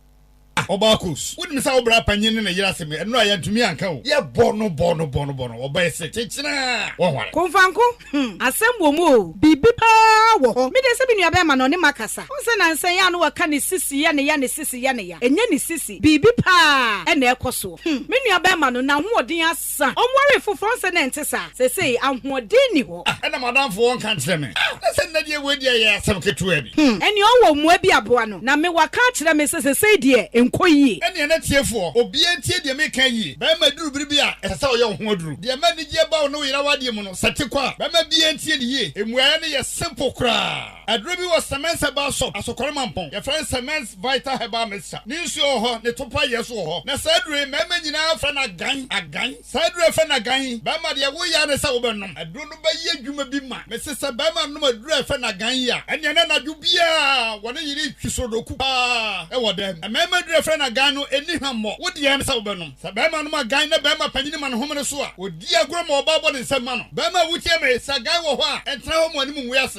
[SPEAKER 1] Ah, ɔbaa Kos,
[SPEAKER 4] wonim sɛ wo bra panyin ne ne yere asɛm yi, ɛno a yɛantumi anka o. Yɛbɔ no bɔ no bɔ no bɔ no, ɔbaa yi se, Kyekyerɛɛ, wɔnware. Komfanko, hmm,
[SPEAKER 5] asɛm wɔ mu o. Biribi paa wɔ hɔ. Me deɛ sɛ me nuabɛɛma na ɔne makasa. Wohu sɛ nansa yi a na waka ne sisi yɛ ne ya, ne sisi yɛ ne ya. Ɛnyɛ ne sisi, biribi paa na ɛrekɔ soɔ. Hmm, me nuabɛɛma no, n'ahoɔden ase. Sa ɔnwaree foforɔ nsɛ na ɛnte saa? Seesei ahoɔden nni hɔ. Ah, ɛna m'adamfo wɔnka
[SPEAKER 4] nkyerɛ me. Ah, na sɛ nnɛ deɛ wei deɛ yɛ asɛm ketewa bi. Hmm, ɛneɛ ɔwɔ mmoa
[SPEAKER 5] bi aboa no. Na me waka akyerɛ me sɛ seesei deɛ ɛnkɔ yie. Ɛneɛ n'atiefoɔ,
[SPEAKER 4] obiara ntie deɛ mereka yie. Barima duru bere bi a, ɛsɛ sɛ ɔyɛ wo ho aduru. Deɛ ɛma anigyeɛ ba wo ne wo yere awadeɛ mu no, sɛ ɛte kɔ a, bɛma biara ntie no yie. Mmuaeɛ no yɛ simple koraa. Aduro bi wɔ Semence Herbal Shop, Asokore Mampong. Yɛfrɛ no Semence Vital Herbal Mixture. Ne nsuo wɔ hɔ, ne topa yɛ nso wɔ hɔ. Na saa aduro yi, mmarima nyinaa frɛ no agan, agan. Saa aduro a yɛfrɛ no agan yi, barima deɛ, wo yea ne sɛ wobɛnom. Aduro no bɛyɛ adwuma bi ma. Mese sɛ barima nom aduro a yɛfrɛ no agan yi a, ɛneɛ na anadwo biara wɔ ne yere retwi sorodoku paa wɔ dan mu. Mmarima aduro a yɛfrɛ no agan no, ɛnni hwammɔ. Wo deɛ, ne sɛ wobɛnom. Sɛ barima nom agan na barima panin ma no homene so a, ɔdi agorɔ ma ɔbaa bɔ ne nsam ma no. Barima a wotie me, sɛ agan wɔ hɔ a, ntena hɔ ma w'anim ngu ase.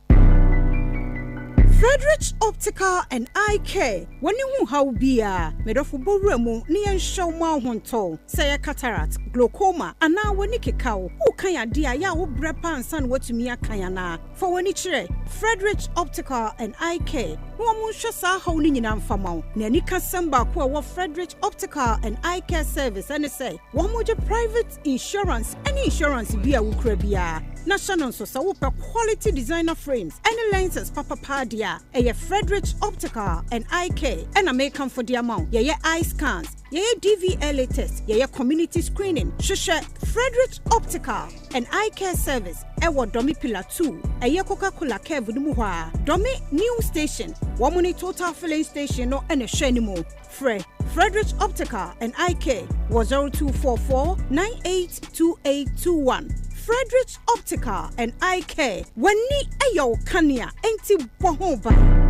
[SPEAKER 5] Frederick's Optical and Eye Care, W'ani ho haw biara, me dɔfo bɔ wura mu na yɛnhyɛ wo ma wo ho ntɔ wo. Sɛ ɛyɛ cataract, glaucoma, anaa w'ani keka wo, worekan ade a, ɛyɛ a wobrɛ paa ansa na woatumi akan anaa? Fa w'ani kyerɛ Frederick's Optical and Eye Care na wɔnhwɛ saa haw no nyinaa mfa ma wo. Nea anikasɛm baako a ɛwɔ Frederick's Optical and Eye Care service ne sɛ wɔgye private insurance ne insurance bi a wokura biara na hyɛ no nso sɛ wopɛ quality designer frames ne lenses papa paa deɛ a ɛyɛ Frederick's Optical and Eye Care ɛna mekamfo de ama wo yɛyɛ eye scans yɛyɛ DVLA test yɛyɛ community screening hwehwɛ Frederick's Optical and Eye Care Service ɛwɔ Dɔme Pillar 2 ɛyɛ Coca-Cola curve no mu hɔ a Dɔme New Station wɔn ne Total Filling Station no ɛna ɛhwɛ no mu Frɛ Frederick Optical and Eye Care wɔ 0244 982821. Frederick Optical and Eye Care, w'ani yɛ wo kanea, enti bɔ ho ban.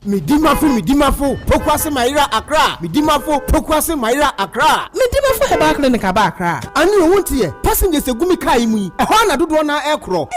[SPEAKER 6] Medimafo Medimafo Pokuase Mayera Accra Medimafo Pokuase Mayera Accra Medimafo Herbal Clinic aba Accra. Anio, wo nteɛ? Passengers gu me car yi mu yi, ɛhɔ ara na dodoɔ no ara rekorɔ.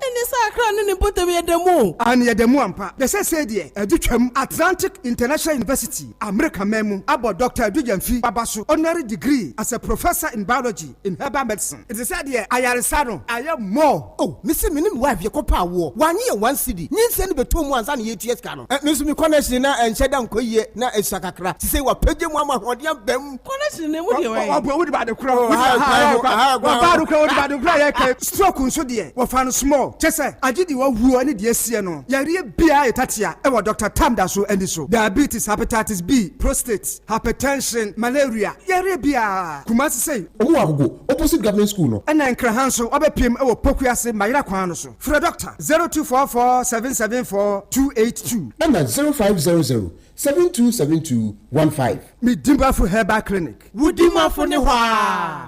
[SPEAKER 6] Ɛnde saa akra ne ne mpɔtam yɛ dɛ mu? Aane, yɛ dɛ mu ampa. Bɛ sɛ sei deɛ, adu twam. Atlantic International University, Amerika man mu, abɔ Dɔkta Adu Gyamfi Baba so Honorary Degree as a Professor in Biology in Herbal Medicine. Ɛte sɛ deɛ ayaresa no ayɛ more. Oh, me se me ne me wife yɛ kɔ paa woɔ, w'anye yɛn one cedi, nyinsɛn no bɛ tɔɔ mu ansa na yɛretua sika no. Me nso me kɔ no akyire na ɛnhyɛ da nkɔ yie na ɛsua kakra, nti sei w'apagya mu ama ahoɔden aba mu. Honestly, ne mu deɛ wɔyɛ. Wɔbɔ wɔde baade kura hɔ. Aha kura hɔ. Aha kura hɔ. Baade kura wɔde baade kura yɛ kɛ. Stroke nso deɛ wɔfa no small. Kyɛ sɛ agye deɛ wɔwuo ne deɛ ɛsiɛ no. Yareɛ biara yɛ tatea wɔ Doctor Tam da so ani so. Diabetes, hepatitis B, prostate, hypertension, malaria, yareɛ biara. Kumasi sei. Ɔmo wɔ Agogo opposite government school no. Ɛna Nkraha nso wɔbɛpiem wɔ Poku ase Mayera kwan no so. Frɛ Doctor zero two four four seven seven four two eight two. Ɛna zero five
[SPEAKER 7] zero zero Seven two seven two one five. Me Dimafo
[SPEAKER 6] Herbal Clinic. Wo Dimafo ne hɔ aa.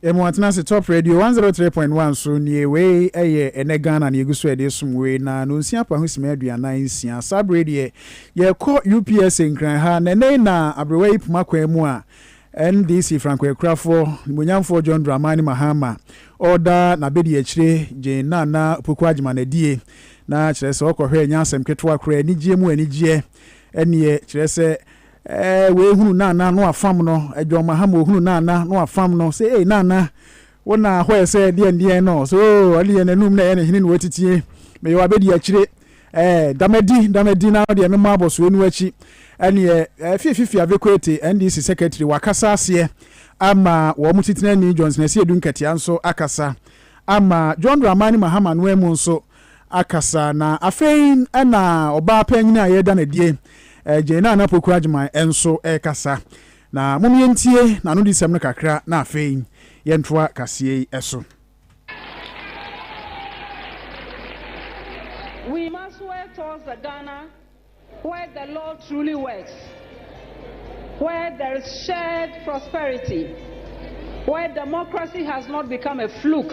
[SPEAKER 6] Emu
[SPEAKER 1] atena ase top radio one zero three point one so nie wei ɛyɛ ɛnɛ Ghana na yɛgu so ɛde som wei na nonsia paho sima aduanan nsia saa bere deɛ yɛkɔ UPSA Nkran ha na ɛnɛ yi na aberewa yi poma kwan mu a NDC frankoakurafoɔ nimuonyamfoɔ John Dramani Mahama ɔreda n'abɛdiakyire Jane Nana Opoku Agyeman adie na kyerɛ sɛ ɔkɔhwɛ ɛnyɛ asɛm ketewa koraa anigyeɛ mu anigyeɛ ɛneɛ kyerɛ sɛ wei hunu Nana no afam no John Mahama ɔhunu Nana no afam no sɛ ei Nana Wo na hɔ yɛ sɛ deɛn deɛn no so oh, ɔne deɛ n'anum na ɛyɛ ne hene na wɔtitie meyɛ wabɛdi akyire eh, damadi damadi na deɛ memmɔ abɔsoɛ no akyi ɛneɛ eh, fiafifi avekwete NDC secretary wakasa aseɛ ama wɔn titenani Johnson Asiedu Nkatia nso akasa ama John Dramani Mahama no amu nso akasa na afei ɛna ɔbaa panyini a yɛda no adie eh, Jane Nana Poku Agyeman nso ɛkasa Na mom yɛntie n'anodisɛm no kakra na afei yɛntoa kaseɛ yi so.
[SPEAKER 8] We must work towards a Ghana where the law truly works, where there is shared prosperity, where democracy has not become a fluke.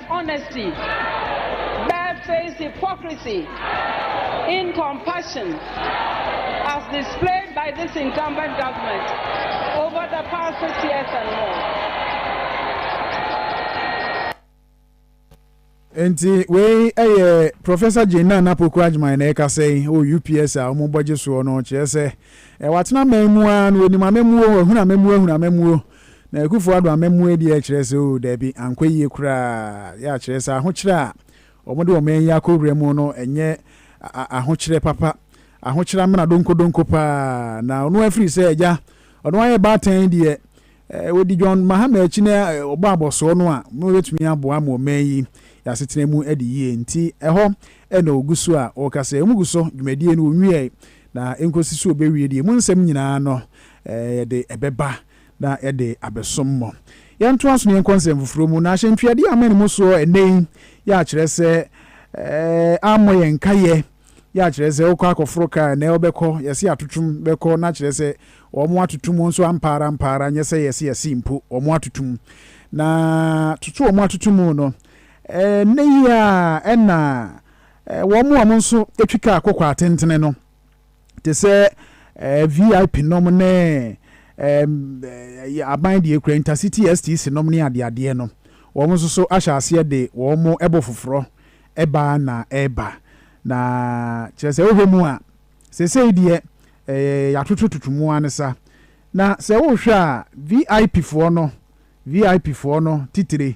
[SPEAKER 8] honesty, barefaced hypocrisy in compassion as displayed by this incumbent government over the past six
[SPEAKER 1] years and more. nti wei ɛyɛ professor jane nana poku adwuma na ɛka sɛ o ups a wɔn bɔgye soɔ no kyerɛ sɛ ɛwɔ atena man mu a na wɔnim amamuo wɔhunu amamuo ahunu amamuo Na Akufo Addo amammuo adi rekyerɛ sɛ oo daabi, ankɔ yie koraa. Yɛ a kyerɛ sɛ ahokyerɛ a wɔde wɔman yi akɔwura mu no nyɛ ahokyerɛ papa. Ahokyerɛ amena donkodonko paa. Na ɔno afiri sɛ agya, ɔno ayɛ baatan deɛ, wɔdi John Mahama akyi na wɔbɔ abɔsoɔ no a, wɔbɛtumi aboa ama ɔman yi asetena mu adi yie. Nti ɛhɔ na wɔgu so a wɔka sɛ wɔgu so, dwumadie no wɔnwiae. Na enkosi sɛ obewie deɛ emu nsɛm nyina ara no, yɛde ɛbɛba na yɛde abɛsom mo. Yɛntoa so na yɛnkɔ nsɛm foforɔ mu. Na ahyɛntuadeɛ a amene mo soɔ ɛnnɛ yi yɛ akyerɛ sɛ ammɔ yɛn nkaeɛ, yɛ akyerɛ sɛ wokɔ akɔforo kaa ɛnnɛ wobɛkɔ, yɛse atotom bɛkɔ na kyerɛ sɛ wɔn atoto mu nso ampa ara ampa ara nyɛ sɛ yɛse yɛse mpo wɔn atoto mu. Na toto wɔn atoto mu no, ɛnnɛ yi ara na Wɔn a wɔn nso twi kaa kɔkɔɔ atentene no, te sɛ VIP nom ne aban deɛ kura intercity STC nom ne adeadeɛ no, wɔn nso so ahyɛ aseɛ de wɔn ɛbɔ foforɔ ɛba na ɛba. Na kyerɛ sɛ wohwɛ mu a, sesei deɛ yɛatotototo mu ara ne sa. Na sɛ wohwɛ a, VIP foɔ no, VIP foɔ no titire,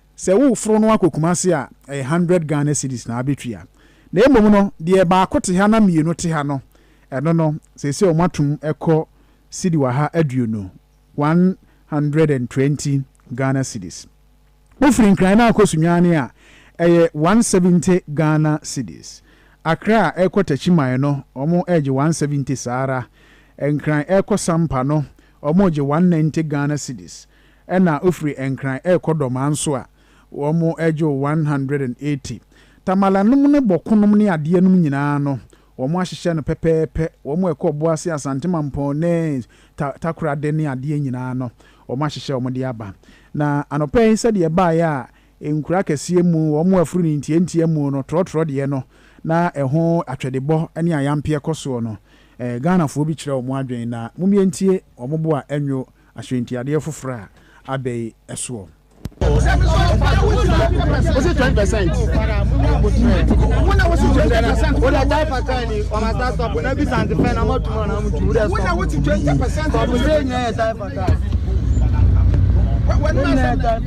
[SPEAKER 1] Sɛ wo foro no akɔ Kumasi a, ɛyɛ hundred Ghana cedis na abɛtua. Na mmom no, deɛ baako te ha na mmienu te ha no, ɛno no, seesei wɔn atom ɛkɔ cedi waha aduonu, one hundred and twenty Ghana cedis. Wo firi Nkran na akɔ Sunyani a, ɛyɛ one seventy Ghana cedis. Accra ɛkɔ Techiman no, wɔn ɛregye one seventy saa ara. Nkran ɛkɔ Sampa no, wɔn regye one ninety Ghana cedis. Ɛna ofiri Nkran ɛrekɔ Dɔmaa nso a, wɔn ɛgye wo one hundred and eighty. Tamale nom ne bɔko nom ne adeɛ nom nyinaa no, wɔn ahyehyɛ no pɛpɛɛpɛ. Wɔn ɛkɔ Ɔboase, Asante Mampɔn ne Ta Takorade ne adeɛ nyinaa no, wɔn ahyehyɛ wɔn de aba. Na anɔpa yi sɛdeɛ ɛbaeɛ a, nkuro akɛseɛ mu, wɔn aforo no ntiantia mu no, trɔtrɔ deɛ no, na ɛho atwɛdebɔ ne ayampeɛ kɔ soɔ no, Ghanafoɔ bi kyerɛ wɔn adwene na momyɛntie wɔn bo a ɛnwo Asɔɛntiadeɛ foforɔ a ada yi soɔ.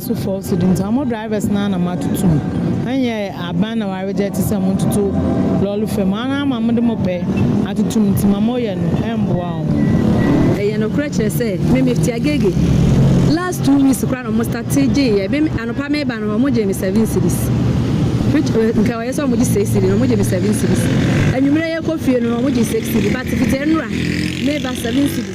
[SPEAKER 7] So fɔw so de nti mo drivers naa na moatoto mu ɛnyɛ aban na waregye te sɛ mototo lɔre fam a naa ma mode mo pɛ atoto mu nti ma moyɛ no ɛmboa ɔmo. Ɛyɛ nokorɛ
[SPEAKER 9] kyerɛ sɛ me mifti agege last two weeks koraa na ɔmo starte gyeeyɛ me anɔpa meba no ɔmo gyee me seven cedis which nka ɔyɛ sɛ ɔmo gye six cedi na ɔmo gye me seven cedis anwummerɛ yɛkɔ fie no ɔmo gye six cedi but fiti ɛnora meba seven cedi.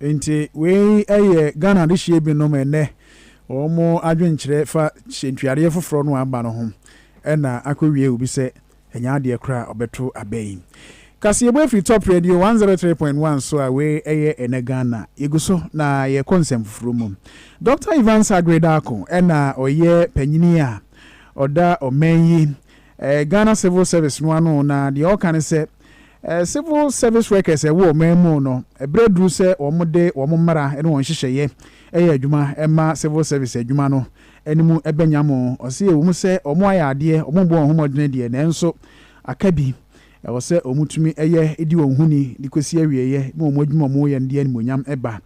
[SPEAKER 9] Nti
[SPEAKER 1] wei yɛ Ghana adehyeɛ binom ɛnnɛ wɔn adwenkyerɛ fa sɛntuadeɛ foforɔ no a aba no ho ɛna akɔ wie obi sɛ ɛnyɛ adeɛ koraa a ɔbɛto aba yi. Kaseɛbɔ ɛfiri Top Radio 103.1 so a wei ɛyɛ ɛnɛ Ghana. Yɛgu so na yɛkɔ nsɛm foforɔ mu. Dɔkta Evans Aggrey Darko ɛna ɔyɛ panyini a ɔda ɔman yi Ghana Civil Service no ano na deɛ ɔreka ne sɛ, Civil Service workers a ɛwɔ ɔman mu no, ɛberɛ aduru sɛ wɔde wɔn mmara ne wɔn nhyehyɛeɛ yɛ adwuma ma Civil Service adwuma no anim bɛnya mo. Ɔse ɛwɔ mu sɛ wɔayɛ adeɛ, wɔrebɔ wɔn ho mmɔdene deɛ, nanso aka bi, ɛwɔ sɛ wɔtumi yɛ di wɔn ho ni de kɔsi awieɛ ma wɔn adwuma a wɔreyɛ no de animuonyam ba.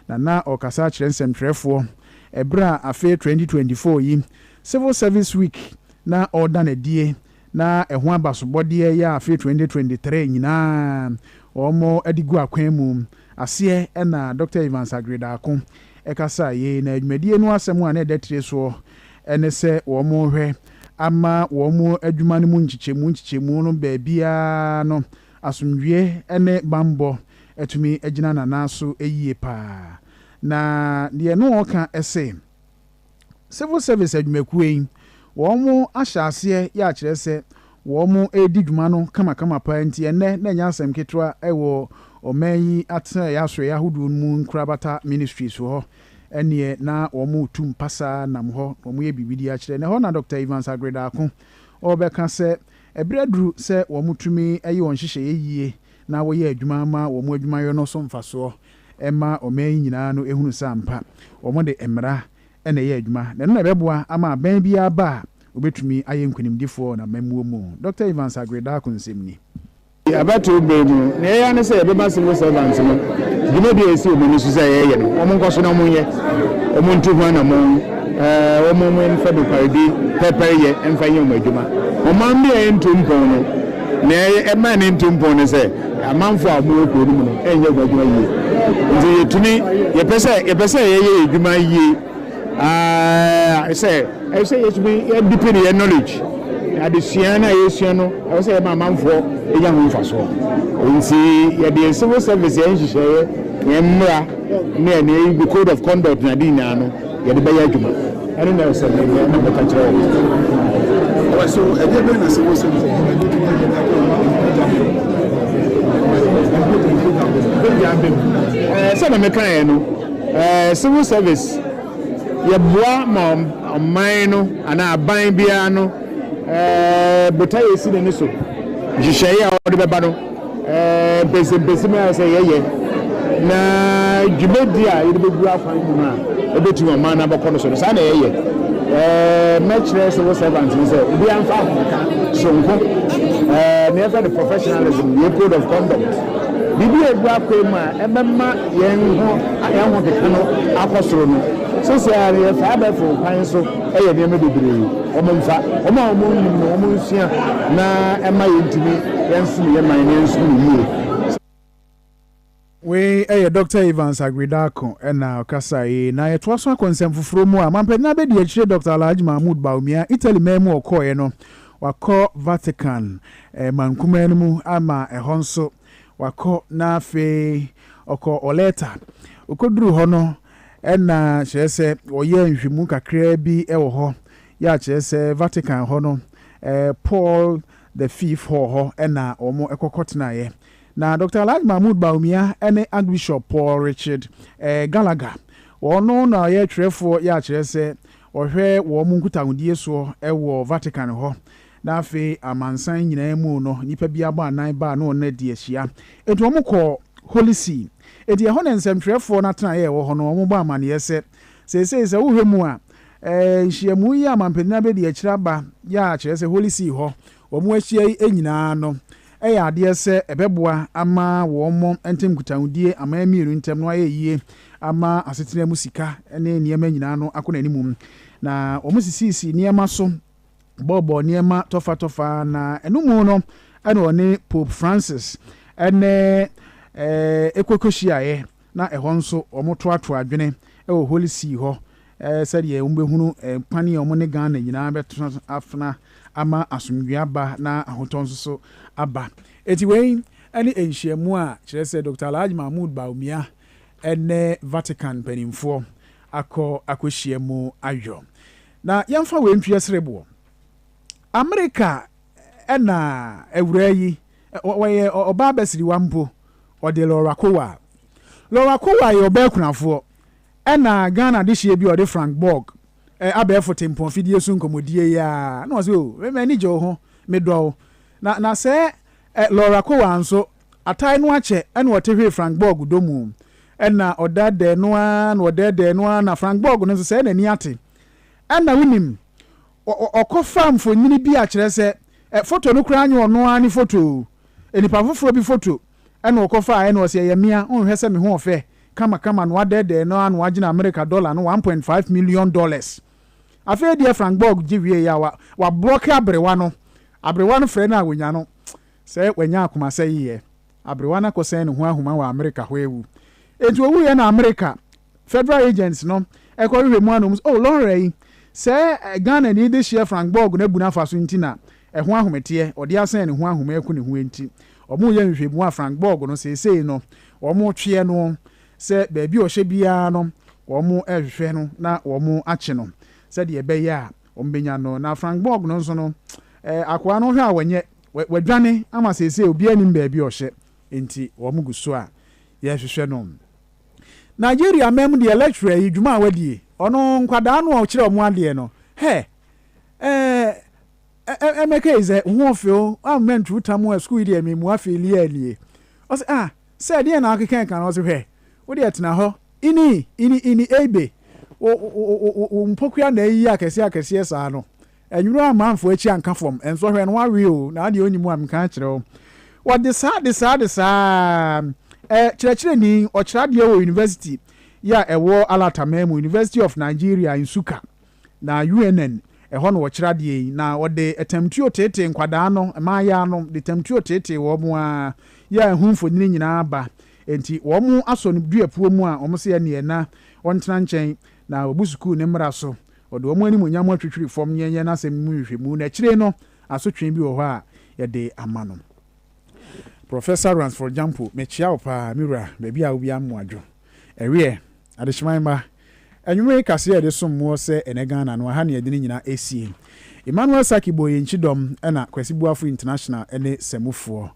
[SPEAKER 1] Nana ɔrekasa akyerɛ nsɛmtwerɛfoɔ ɛberɛ a afe 2024 yi Civil Service Week na ɔreda no adie na ɛho abasobɔdeɛ yɛ afe 2023 nyinaa wɔde gu akwan mu aseɛ ɛna Dɔkta Evans Agredako ɛkasa yei na adwumadie no asɛm a na ɛda tire soɔ ɛne sɛ wɔrehwɛ ama wɔn adwuma no mu nkyekyɛmu nkyekyɛmu no baabiara no asomdwie ɛne banbɔ atumi agyina nanan so yie paa na deɛ no ɔka ɛse Civil Service adwumakuo yi, wɔn ahyɛ aseɛ yɛ akyerɛ sɛ wɔn redi dwuma no kamakama paa nti ɛnnɛ na ɛnyɛ asɛm ketewa wɔ ɔman yi atenaeɛ asoɛeɛ ahodoɔ no mu nkorabata ministries hɔ ɛneɛ na wɔn retu mpasa nam hɔ na wɔyɛ biribi de akyerɛ. Na ɛhɔ na Dɔkta Evans Aggreda ako ɔrebɛka sɛ ɛberɛ aduru sɛ wɔtumi yɛ wɔn nhyehyɛeɛ yie na wɔyɛ adwuma ma wɔn adwumayɔ no so mfasoɔ. ɛmma ɔman yi nyinaa no hunu sɛ ampa wɔde mmara na ɛyɛ adwuma, na ɛno na ɛbɛboa ama abɛn biara aba a wɔbɛtumi ayɛ nkonimdifoɔ wɔ amammuo mu, Dɔkta Evans Aggrey Darko nsɛm ni. Abatoɔ
[SPEAKER 10] berɛ mu, nea yɛyɛ ara ne sɛ yɛbɛma civil servants no dwumadie a ɛsi wɔn ani so sɛ yɛyɛ no, wɔnkɔ so na wɔnyɛ, wɔntu ho anammɔn, wɔmfa nokwaredi pɛrpɛreyɛ mfa nyɛ wɔn adwuma. Ɔman bi a ɛntu mpɔn no, nea ɛma ɛntu mpɔn ne sɛ, Amanfoɔ a wɔwɔ kuro no mu no nyɛ wɔn adwuma yie. Nti yɛtumi, yɛpɛ sɛ, yɛpɛ sɛ yɛyɛ yɛn adwuma yie aa sɛ, ɛwɔ sɛ yɛtumi yɛdipini yɛn knowledge. Adesua no a yɛsua no, ɛwɔ sɛ yɛma amanfoɔ nya ho mfasoɔ. Nti yɛde yɛn civil service, yɛn nhyehyɛeɛ, yɛn mmara ne yɛn code of conduct ne ade nyinaa no, Yɛde bɛyɛ adwuma. Ɛno na ɛsɛ me, na mɛka kyerɛ wɔn. Ɔbɛ so, ɛdeɛ bɛn na sɛ wɔn sɛ mfɔmu na ɛbɛtumi ayɛ na ɛbɛn ma mpagya bɛ mu? Mpagya bɛ mu. Sɛ na mɛka yɛ no, civil service, yɛ boa ma ɔman no anaa aban biara no botaeɛ si n'ani so, nhyehyɛeɛ a ɔde bɛba no. mpɛsɛmpɛsɛm a ɛsɛ sɛ yɛyɛ na dwumadi a yɛde bɛgu akwan mu a ɛbɛtumi ɔman no abɛkɔ no so no saa na yɛyɛ mɛkyerɛ sɛ wo servant no sɛ obiara mfa ahomeka soronko na yɛfrɛ no professionalism yɛ code of conduct biribi a ɛgu akwan mu a ɛbɛma yɛn ho yɛn ho keka no akɔ soro no sɛ sɛ yɛfa abɛfo kwan so Ɛyɛ nneɛma bebree wɔmfa, wɔn a wɔnnim no wɔnsua na ɛma yɛntumi yɛnsom yɛn man na yɛnsom no yie.
[SPEAKER 1] Wei yɛ Dɔkta Evans Aggrey-Darko na ɔkasaeɛ yi. Na yɛtoa so akɔ nsɛm foforɔ mu a, Mampanyin abɛdi akyire Dɔkta Alhaji Mahmood Bawumia, Italy man mu ɔkɔeɛ no, wakɔ Vatican mankumaa no mu ama ɛhɔ nso wakɔ na afei ɔkɔɔ Oleta. Ɔkɔduruu hɔ no, Ɛna kyerɛ sɛ wɔyɛɛ nhwehwɛmu kakraa bi wɔ hɔ, yɛ a kyerɛ sɛ Vatican hɔ no, Paul the Fifth hɔɔ hɔ na wɔkɔ kɔtenaeɛ. Na Doctor Alhaji Mahmood Bawumia ne Archbishop Paul Richard Gallagher, ɔno na ɔyɛ twerɛfoɔ yɛ a kyerɛ sɛ ɔhwɛ wɔn nkutahodie soɔ wɔ Vatican hɔ. Na afei amansan nyinaa mu no, nnipa bi abɔ anan baa ne wɔn adi ahyia. Enti wɔn kɔɔ Holy See. Enti ɛhɔ na nsɛmtwerɛfoɔ no atenaeɛ a ɛwɔ hɔ no, wɔn bɔ amaneɛ sɛ, Seesei sɛ wohwɛ mu a, ɛɛ, nhyiamu yi a mampanin abɛdi akyire aba yi a kyerɛ sɛ Holy See hɔ wɔn ahyia yi nyinaa no, ɛyɛ adeɛ sɛ ɛbɛboa ama wɔn ntam nkutahodie aman mmienu ntam no ayɛ yie ama asetena mu sika ne nneɛma nyinaa no akɔ n'animum. Na wɔsisiisii nneɛma so bɔɔbɔɔ nneɛma tɔfatɔfa na ɛno mu no ɛna ɔne Pope Francis ɛne ɛɛ ekɔkɔhyiaeɛ na ɛhɔ nso wɔtoatoa adwene ɛwɔ Holy See hɔ ɛɛ sɛdeɛ wɔbɛhunu kwan a wɔne Ghana nyinaa bɛtena afena ama asomdwoeɛ aba na ahotɔ nso so aba. Eti wei ɛne nhyiamu a kyerɛ sɛ Doctor Alhaji Mahmood Bawumia ɛne Vatican mpanimfoɔ akɔ akɔhyia mu ayɔ. Na yɛmfa wei nto yɛn sereboɔ. Amerika na awuraa yi, ɔyɛ ɔbaa abasiriwa mpo, ɔde Laura Kowal. Laura Kowal yɛ ɔbaa akunafoɔ, ɛna Ghana adehyeɛ bi a ɔde Frank Borg, abɛɛfo tempɔn fidie so nkɔmmɔdie yi ara, na ɔse o, m'ani gye wo ho, medɔ wo. Na, na sɛɛ Laura Kowal nso, Atae no akyɛ na ɔtehwee Frank Borg dɔ mu. Ɛnna ɔdɛɛdɛɛ no ara na ɔdɛɛdɛɛ no ara na Frank Borg no nso sɛɛ n'ani ate. Ɛnna wonim, ɔkɔfaa mfonini bi a kyerɛ sɛ, foto no koraa nyɛ ɔno ara ne foto o, nnipa foforɔ bi foto na ɔkɔfaa ɛnna ɔse ɛyɛ mea, wonhwɛ sɛ me ho ɔfɛ kamakama na wadɛɛdɛɛ no ara na wagyina Amerika dɔla no one point five million dollars. Afei deɛ Frank Borg gye wieeɛ a, wabrɔke aberewa no, aberewa no frɛ no a, wɔnya no. Sɛ wanya akomasɛe ɛ, aberewa no akɔsɛn ne ho ahuma wɔ Amerika hɔ awu. Enti owuiɛ na Amerika Federal Agents no kɔ hwehwɛ mu anɔ mu sɛ, Oh, Laura yi, sɛ Ghanani dehyeɛ Frank Borg no abu no afa so nti na ɛho ahometeɛ, ɔde asɛn ne ho ahoma aku ne ho enti, wɔreyɛ nhwehwɛmu a Frank Borg no seesei no wɔretweɛ no sɛ baabi a ɔhyɛ biara no wɔrehwehwɛ no na wɔakye no sɛdeɛ ɛbɛyɛ a wɔbɛnya no. Na Frank Borg no nso no, akoa no hwɛ a wɔnyɛ. Wadwane ama seesei obiara nnim baabi a ɔhyɛ, enti wɔn gu so a yɛrehwehwɛ no. Nigeria man mu deɛ lecturer yi dwuma a wadie, ɔno nkwadaa no a ɔkyerɛ wɔn adeɛ no, hɛ, eh, eh, Emeka is a hoofil, a man tru tamu a school yi deɛ me mua feelie a nie. Ɔse, ah, sɛ ɛdeɛ na ɔkeka ɛka no, ɔse hwɛ, wo deɛ tena hɔ, ini, ini, ini, eibe, wo, wo, wo, wo, wo mpokua na ayi akɛseɛ akɛseɛ saa no, Ɛnwura amanfoɔ akyi anka fam. Nsɔhwɛ no wawe o, na adeɛ ɔnni mu a menka nkyerɛ wo. Wɔde saa de saa de saa ara. Ɛ, kyerɛkyerɛni, ɔkyerɛ adeɛ wɔ university yi a ɛwɔ Alataman mu, University of Nigeria, Nsukka, na UNN, ɛhɔ na ɔkyerɛ adeɛ yi, na ɔde tamtuo teetee nkwadaa no, mmaayaa no, de tamtuo teetee wɔn ara, yɛ a ho mfonini nyinaa ba. Enti wɔn asɔ no duapuo mu a wɔn se ɛneɛ na ɔntena nkyɛn na wabu sukuu no mmara so. Ɔde wɔn animuonyam atwitwiri fam yɛn yɛn asɛm mu nhwehwɛmu, na akyire yi no, asotwe bi wɔ hɔ a yɛde ama no. Professor Ransford Gyampo, mekyea wo paa, me wura, baabi a wobia mmoadwo. Ɛweɛ, adehyeman mma, anwummere kaseɛ a yɛde som moɔ sɛ ɛnɛ Ghana no, aha na yɛde ne nyinaa asie. Emmanuel Sackey bɔɔ yɛn kyidɔm, ɛna Kwasi Boafo International ne Samufoɔ.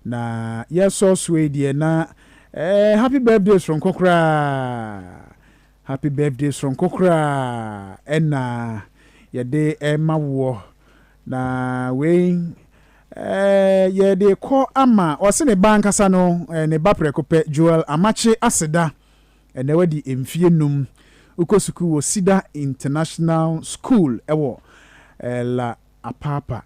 [SPEAKER 1] Na yɛresɔ so yi deɛ, na ɛɛ, happy birthday soronko koraa. Happy birthday soronko koraa na yɛde rema woɔ na wei yɛde kɔ ama ɔse ne ba ankasa no ne ba prɛko pɛ Joel Amakye Aseda ɛnɛ wadi mfie num wokɔ sukuu wɔ Sida International School ɛwɔ La Apapa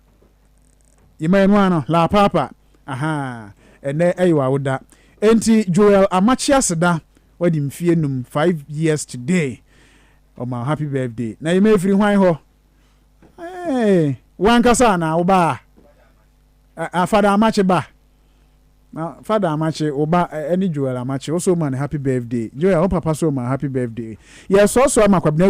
[SPEAKER 1] yɛma yɛn ano La Apapa aha ɛnɛ ɛyɛ wawoda enti Joel Amakye Aseda Wadi mfie num five years today ɔma wo happy birthday Nayima efiri hwan hɔ eeh wo ankasa anaa wo ba a Fada Amakye ba na Fada Amakye wo ba ɛne Joel Amakye wo so ma ne happy birthday Joel wo papa so ma happy birthday yɛ sɔsɔ ama Kwabena